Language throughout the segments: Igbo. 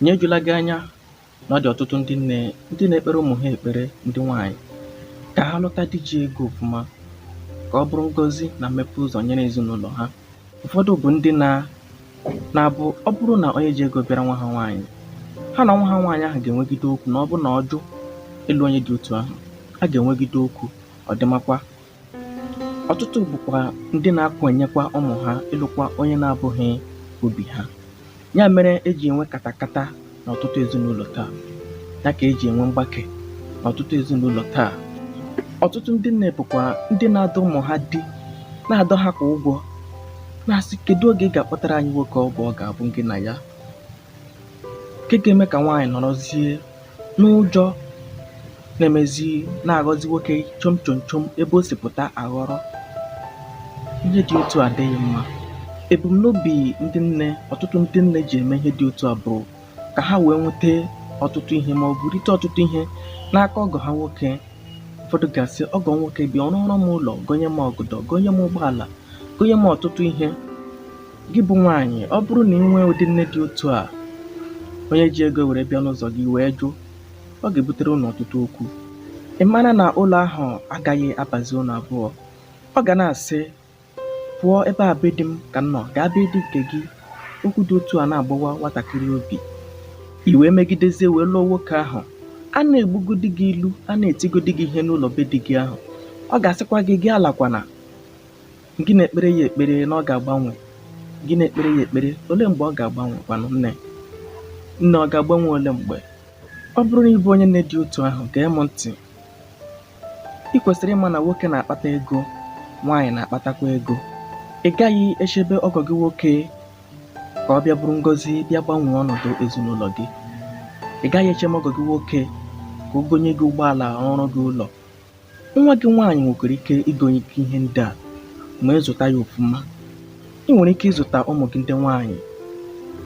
Nya ejula gị anya na ọ dị ọtụtụ ndị nne ndị na-ekpere ụmụ ha ekpere ndị nwaanyị ka ha lụta di ji ego ọfụma ka ọ bụrụ ngọzi na mmepe ụzọ nyere ezinụlọ ha. Ụfọdụ bụ ndị na na-abụ ọ bụrụ na onye ji ego bịara nwa ha nwaanyị, ha na nwa ha nwaanyị ahụ ga-enwegide okwu na ọ bụrụ na ọ jụ ịlụ onye dị otu ahụ, ha ga-enwegide okwu, ọ dịmakwa Ọtụtụ bụkwa ndị na-akwanyekwa ụmụ ha ịlụkwa onye na-abụghị obi ha. Ya mere e ji enwe katakata n'ọtụtụ ezinụlọ taa. Ya ka e ji enwe mgbake n'ọtụtụ ezinụlọ taa. Ọtụtụ ndị nne bụkwa ndị na-adọ ụmụ ha di, na-adọ ha kwa ụgwọ, na-asị, Kedụ oge ị ga-akpọtara anyị nwoke ọ bụ ọ ga-abụ gị na ya? nke ga-eme ka nwaanyị nọrọzie n'ụjọ na-emezi na-aghọzi nwoke chom chom chom ebe o si pụta aghọrọ ihe dị otu a adịghị mma ebumnobi ndị nne ọtụtụ ndị nne ji eme ihe dị otu a bụ ka ha wee nweta ọtụtụ ihe ma ọ bụ rite ọtụtụ ihe n'aka ọgọ ha nwoke ụfọdụ ga-asị ọgọ nwoke bịa ọ rụọrọ m ụlọ gonye m ọgọdọ gonye m ụgbọala gonye m ọtụtụ ihe Gị bụ nwaanyị, ọ bụrụ na ị nwee ụdị nne dị otu a, onye ji ego were bịa n'ụzọ gị ị wee jụ, ọ ga-ebutere ụnụ ọtụtụ okwu. Ị mara na ụlọ ahụ agaghị abazi ụnụ abụọ. Ọ ga na-asị, pụọ ebe a be di m ka m nọ, gaa be di nke gị. Okwu dị otu a na-agbawa nwatakịrị obi. I wee megidezie wee lụọ nwoke ahụ. A na-egbugodi gị ilu, a na-etigodi gị ihe n'ụlọ be di gị ahụ. Ọ ga-asịkwa gị, gị alakwana. Gị na-ekpere ya ekpere na ọ ga-agbanwe. Gị na-ekpere ya ekpere ole mgbe ọ ga-agbanwe kwanụ nne? Nne ọ ga-agbanwe ole mgbe? Ọ bụrụ na ị bụ onye nne dị otu ahụ, gee m ntị. Ị kwesịrị ịma na nwoke na-akpata ego, nwaanyị na-akpatakwa ego. Ị gaghị echebe ọgọ gị nwoke ka ọ bịa bụrụ ngọzi bịa gbanwee ọnọdụ ezinụlọ gị. Ị gaghị echebe ọgọ gị nwoke ka o gonye gị ụgbọala rụọrọ gị ụlọ Nwa gị nwaanyị nwekwara ike igonye gị ihe ndị a ma ị zụta ya ọfụma. Ị nwere ike ịzụta ụmụ gị ndị nwaanyị.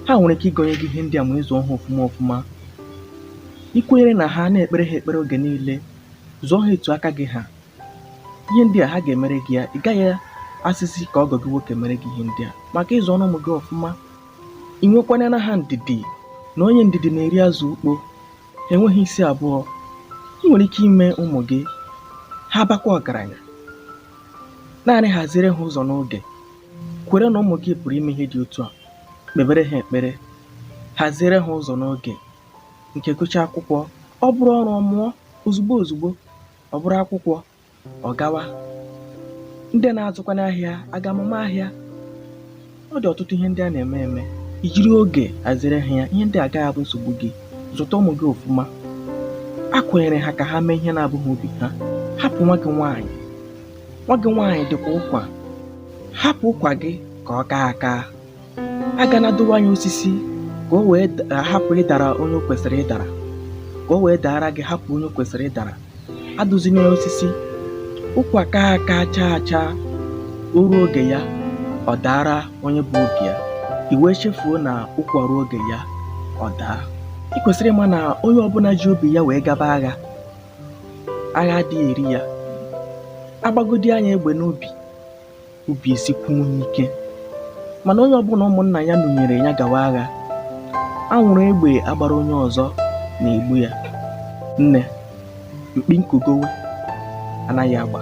Ha nwere ike igonye gị ihe ndị a ma ị zụọ ha ọfụma ọfụma. I kwenyere na ha, na-ekpere ha ekpere oge niile, zụọ ha etu aka gị ha. Ihe ndị a ha ga-emere gị ya, ị gaghị asịzi ka ọgọ gị nwoke mere gị ihe ndị a maka ị zụrụ ụmụ gị ọfụma. I nwekwanyere ha ndidi na onye ndidi na-eri azụ ukpo. Enweghị isi abụọ, ị nwere ike ime ụmụ gị ha bakwa ọgaranya. Naanị haziere ha ụzọ n'oge. Kwere na ụmụ gị pụrụ ime ihe dị otu a. Kpebere ha ekpere. Haziere ha ụzọ n'oge. Nke gụchaa akwụkwọ, ọ bụrụ ọrụ ọ mụọ ozugbo ozugbo, ọ bụrụ akwụkwọ ọ gawa ndị na-azụkwa n'ahịa agaa mụma ahịa ọ dị ọtụtụ ihe ndị a na-eme eme i jiri oge haziere ha ya ihe ndị a agaghị abụ nsogbu gị zụta ụmụ gị ọfụma akwanyere ha ka ha mee ihe na-abụghị obi ha hapụ nwa gị nwaanyị nwa gị nwaanyị dịkwa ụkwa hapụ ụkwa gị ka ọ kaa aka agana adụwa ya osisi ka o wee da- hapụ ịdara onye o kwesịrị ịdara ka o wee daara gị hapụ onye o kwesịrị ịdara adụzina ya osisi ụkwa kaa aka chaa acha o ruo oge ya ọ daara onye bụ obi ya i wee chefuo na ụkwa ruo oge ya ọ daa i kwesịrị ịma na onye ọbụla ji obi ya wee gaba agha agha adịghị eri ya a gbagodi ya egbe n'obi obi esikwuo ya ike mana onye ọbụla ụmụnna ya nunyere ya gawa agha anwụrụ egbe a gbara onye ọzọ na-egbu ya nne mkpi nkugowe anaghị agba